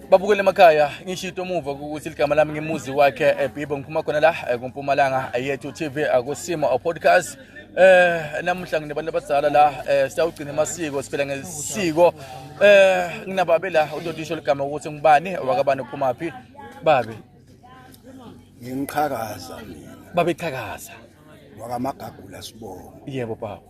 babukele emakhaya ngisho into omuva ukuthi ligama lami ngimuzi wakhe eh, bibo ngiphuma khona la eh, kumpumalanga eh, yethu tv akusimo podcast eh namuhla nginabantu abadala la siyawugcina amasiko siphela ngesiko eh nginababe la utotisho ligama ukuthi ngubani wakabani uphuma phi babe ngiqhakaza mina babe qhakaza wakamagagula sibonga yebo baba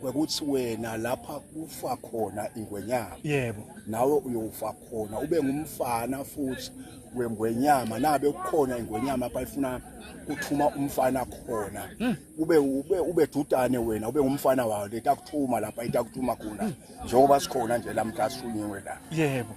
kwekuthi wena lapha kufa khona ingwenyama yebo nawe uyofa khona ube ngumfana futhi wengwenyama nabe kukhona ingwenyama apha ifuna kuthuma umfana khona hmm. ube ube ube dudane wena ube ngumfana wayo letakuthuma lapha itakuthuma khona hmm. njengoba sikhona nje lamhla sishunyiwe la yebo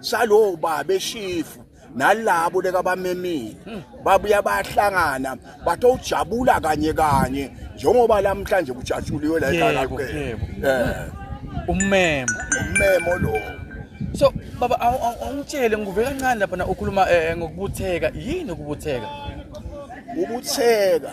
salowo baba eshifu nalabo lekabamemile hmm. babuya bayahlangana bathe ujabula kanye kanye njengoba lamhlanje kujatshuliwe la ekhaya eh ummemo ummemo lo so baba awungitshele ngivuke kancane lapha na ukhuluma eh, ngokubutheka yini ukubutheka ubutheka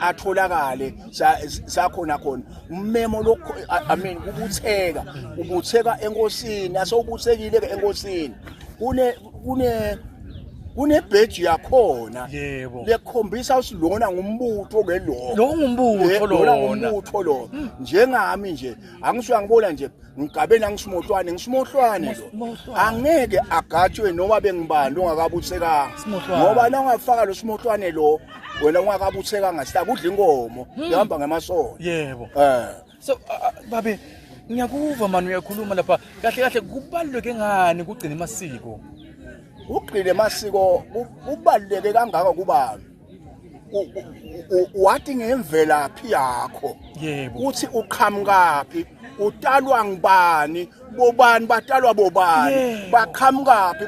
atholakale sakhona khona umemo lokho i mean kubutheka ubutheka enkosini asewubuthekile ke enkosini kune kune kunebheji yakhona yebo lekhombisa ukuthi lona ngumbutho ke lo lo ngumbutho lona ngumbutho lo hmm. njengami nje angisho angibona nje ngigabeni angishimohlwane ngishimohlwane lo angeke agatshwe noma bengibani ongakabuthekanga ngoba na ungafaka lo shimohlwane lo wena ungakabuthekanga sita kudla inkomo hmm. ihamba ngemasono yebo eh so uh, uh, babe ngiyakuva mani uyakhuluma lapha kahle kahle kubaluleke ngani kugcina amasiko ugcine amasiko kubaluleke kangaka kubani wathi ngemvelaphi yakho yebo uthi uqhamukaphi utalwa ngibani bobani batalwa bobani baqhamukaphi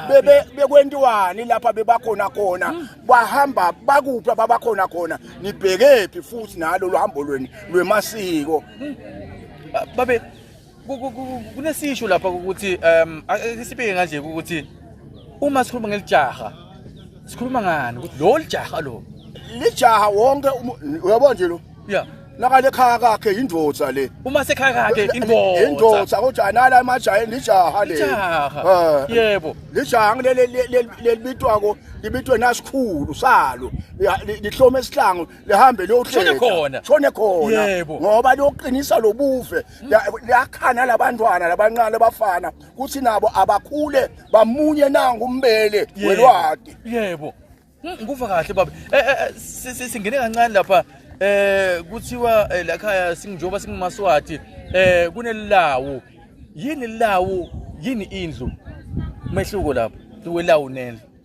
bebe bekwentiwani lapha bebakhona khona hmm. bahamba bakuphi ababakhona khona nibhekephi futhi nalo luhambo lweni lwemasiko hmm. babe kunesisho lapha ukuthi um sibike kanje ukuthi uma sikhuluma ngelijaha sikhuluma ngani ukuthi lo lijaha lo lijaha wonke uyabona nje lo ya nakale khaya kakhe yindoda le uma sekhaya kakhe indoda indoda kodwa anala emajayeni lijaha le lijaha eh, yebo lijaha ngilele lelibitwako libitwe nasikhulu salo lihlome esihlango lihambe liyohleka shone khona shone khona ngoba liyoqinisa lobuve liyakhana labantwana labancane bafana kuthi nabo abakhule bamunye nangu umbele welwadi yebo hmm, ngikuva kahle baba eh, eh, eh, singene kancane lapha eh kuthiwa lakhaya singijoba singumaswati eh kunelilawu yini lilawu yini indlu mehluko lapho liwelawu nendlu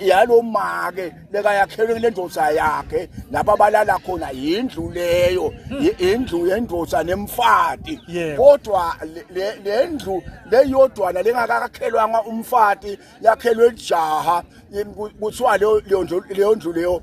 yalo make lekayakhelwe kule ndoda yakhe lapho abalala khona yindlu leyo indlu yendoda nemfati kodwa le ndlu leyodwana lengakakhelwanga umfati yakhelwe lijaha kuthiwa leyo ndlu leyo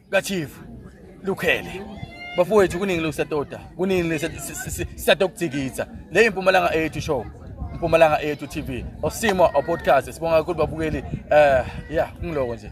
kachief lukhele bafowethu kuningi lokusatoda kuningi sisatoda ukujikitha le impumalanga ethu show impumalanga ethu tv osimo opodcast sibonga kakhulu babukeli um eh, ya kungiloko nje